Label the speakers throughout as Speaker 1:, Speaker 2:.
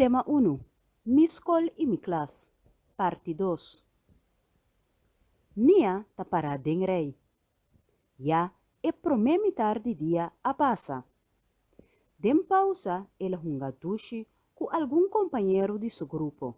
Speaker 1: Tema unu, Mi skol i mi klas, parti dos. Nia ta pará den rei. Ya e promé mitar di dia a pasa. Den pausa el a hunga dushi ku algun kompañero di su grupo.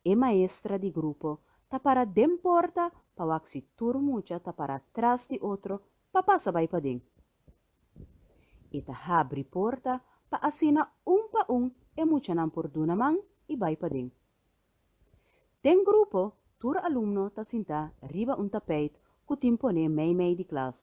Speaker 1: E maestra di grupo ta pará den porta pa wak si tur mucha ta pará tras di otro pa pasa bai paden. E ta habri porta pa asina un pa un e muchanan por duna man i bai paden. Den grupo tur alumno ta sintá riba un tapeit ku tin poné meimei di klas.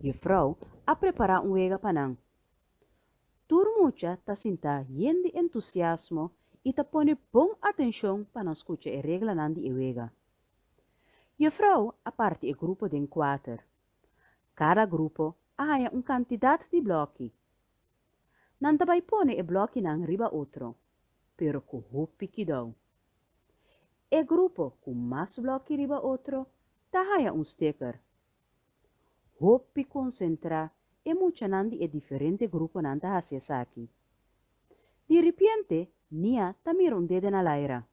Speaker 1: Juffrouw a prepará un wega pa nan. Tur mucha ta sintá yen di entusiasmo i ta pone bon atenshon pa nan skucha e reglanan di e wega. Juffrouw a parti e grupo den kuater. Kada grupo a haña un kantidat di blòki. Nan ta bai pone e blòkinan riba otro, pero ku hopi kidou. E grupo ku mas blòki riba otro ta haña un sticker. Hopi konsentrá e muchanan di e diferente gruponan ta hasi esaki. Diripiente Nia ta mira un dede na Laira.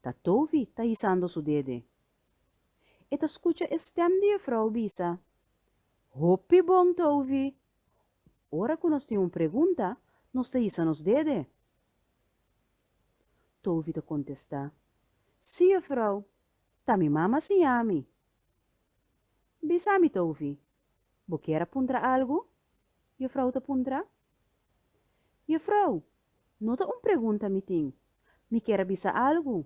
Speaker 1: Tatovi ta hisando su dede. E ta scucha e stem di e vrouw bisa, Hopi bon ta ovi! Ora cu nos tin un pregunta, nos ta hisa nos dede. Tovi ta contesta, Si, e vrouw, ta mi mama siña mi. Bisa mi, Tovi, bo kier a puntra algu? e vrouw ta puntra. E vrouw, no ta un pregunta mi tin, mi kier a bisa algu,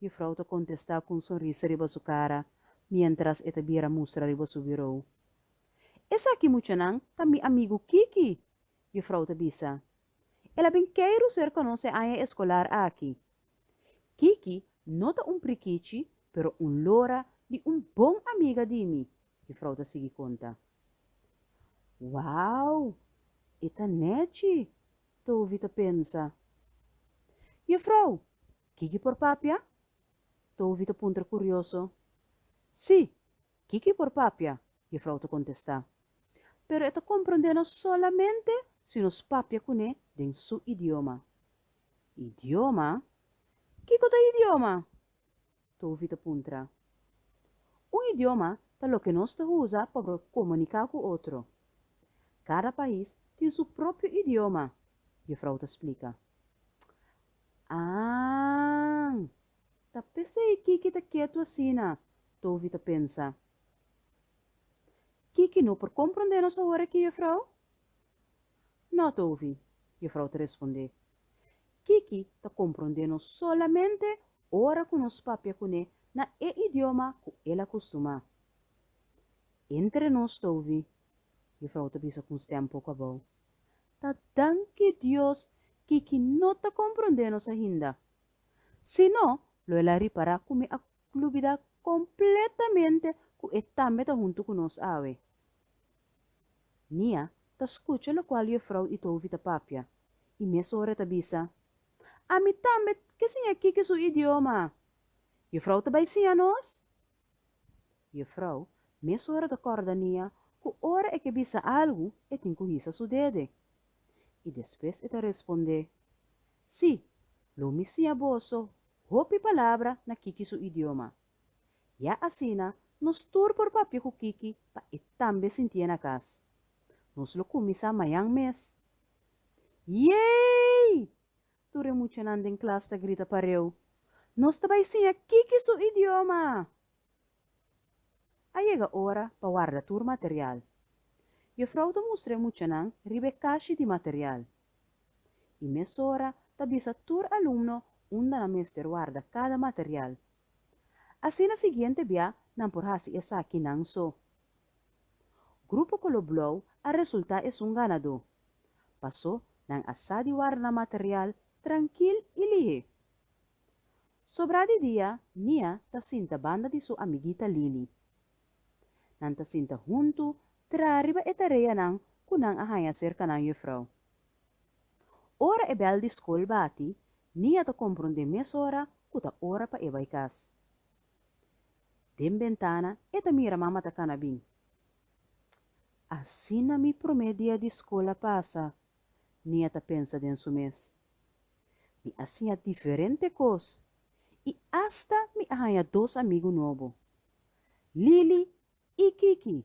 Speaker 1: Jufrou ta kontestá ku un sonrisa riba su kara miéntras e ta bira mustra riba su birou. Esaki muchanan ta mi amigu Kiki, Jufrou ta bisa. El a bin kei Ruser konos e aña eskolar aki. Kiki no ta un prikichi pero un lora di un bon amiga di mi, Jufrou ta sigui konta. Wou! E ta nèchi, Tovi ta pensa. Jufrou, Kiko por papia? Tovi ta puntra kurioso. Sí, kiko i por papia? Jefrou ta kontestá. Pero e ta komprondé nos solamente si nos papia kuné den su idioma. Idioma? Kiko ta idioma? Tovi ta puntra. Un idioma ta loke nos ta usa pa por komuniká ku otro. Kada pais tin su propio idioma, Jefrou ta splika. Aang! Ta p'esei Kiki ta ketu asina, Tovi ta pensa. Kiki no por komprondé nos awor aki, Jufrou? No, Tovi, Jufrou ta respondé. Kiki ta komprondé nos solamente ora ku nos papia kuné na e idioma ku el a kustumá. Entre nos, Tovi, Jufrou ta bisa ku un stèm poku abou, ta danki Dios ki ki no ta komprondé nos ainda. Si no, lo el a ripará ku mi a lubidá kompletamente ku e tambe ta huntu ku nos awe. Nia ta skucha lokual Jefrouw Itovi ta papia i mes ora e ta bisa, Ami tambe ke siña Kiki su idioma. Jefrouw ta bai siña nos? Yefrou, mes ora ta kòrda Nia ku ora e ke bisa algu e tin ku hisa su dede. I despues e ta respondé, Sí, lo mi siña boso hopi palabra na Kiki su idioma. Ya asina nos tur por papia ku Kiki pa e tambe sintié na kas. Nos lo kuminsá mañan mes. Yey! Tur e muchanan den klas ta grita pareu, Nos ta bai siña kiki su idioma! A yega ora pa warda tur material. Jefrouw ta mustra e muchanan riba e kashi di material i mesora ta bisa tur alumno unda nan mester warda kada material. Asina siguiente bia nan por hasi esakinan so. Grupo Color Blauw a resulta esun ganadó. Paso nan a sa di warda nan material trankil y lihé. Sobra di dia Mia ta sinta banda di su amiguita Lily. Nan ta sinta huntu traha riba e tareanan cu nan a haña cerca nan juffrouw. Ora e bel di scol bati Mia ta comprundé mesora cu ta ora pa e bay cas. Den bentana e ta mira mama ta kana bin. Asina mi promé dia di skol a pasa, Nia ta pensa den su mes. Mi a siña diferente kos i asta mi a haña dos amigu nobo, Lili i Kiki.